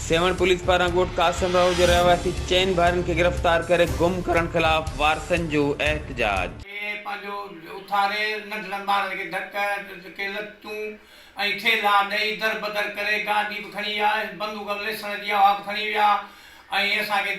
Sehwan police پاران ڳوٺ قاسم راهو جي رهواسي چئن ڀائرن کي گرفتار ڪري گم ڪرڻ خلاف وارثن جو احتجاج. کي پنهنجو اٿاري ننڍڙن ٻارن کي ڌڪ ڌڪي لتون ۽ ٿيلها ڏئي در بدر ڪري گاڏي به کڻي ويا ۽ بندوق ليسڻ جي اها به کڻي ويا ۽ اسان کي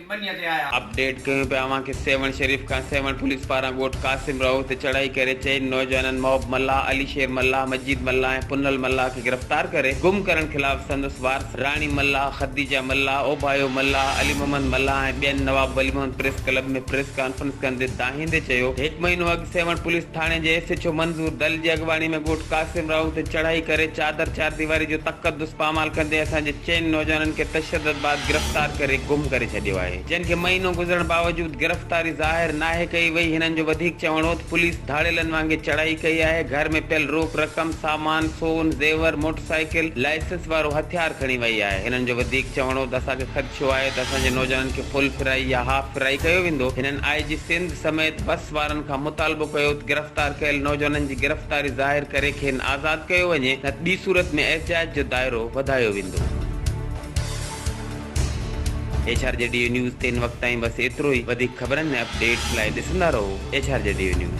ٻنيء تي آيا. اپڊيٽ ڪيون پيا اوهان کي سيوهڻ شريف کان سيوهڻ پوليس پاران ڳوٺ قاسم راهو تي چڙهائي ڪري چئن نوجوانن محب ملاح، علي شير ملاح، مجيد ملاح ۽ پنهل ملاح کي گرفتار ڪري گم ڪرڻ خلاف سندس وارثن راڻي ملاح، خديجه ملاح، اوڀايو ملاح، علي محمد ملاح ۽ ٻين Nawab Wali Muhammad press club ۾ press conference ڪندي دانهيندي چيو هڪ مهينو اڳ سيوهڻ پوليس ٿاڻي جي S H O Manzoor Dil جي اڳواڻي ۾ ڳوٺ قاسم راهو تي چڙهائي ڪري چادر چارديواري جو تقدس پامال ڪندي اسان جي چئن نوجوانن کي تشدد بعد گرفتار ڪري گم ڪري ڇڏيو آهي جن کي مهينو گذرڻ باوجود گرفتاري ظاهر ناهي ڪئي وئي هنن جو وڌيڪ چوڻ هو ته پوليس ڌاڙيلن وانگي چڙهائي ڪئي آهي گهر ۾ پيل روڪ رقم سامان سون زيور موٽرسائيڪل لائسنس وارو هٿيار کڻي وئي آهي هنن جو وڌيڪ چوڻ هو ته اسان کي خدشو آهي ته اسان جي نوجوانن کي فل فرائي يا هاف فرائي ڪيو ويندو هنن آء جي سنڌ سميت بس وارن کان مطالبو ڪيو ته گرفتار ڪيل نوجوانن جي گرفتاري ظاهر ڪري کين آزاد ڪيو وڃي نه ته ٻي صورت ۾ احتجاج جو دائرو وڌايو ويندو. H R G Dev news تي ان وقت تائين بس ايترو ئي وڌيڪ خبرن ۽ اپ ڊيٽس لاء ڏسندا رهو H R G Dev news.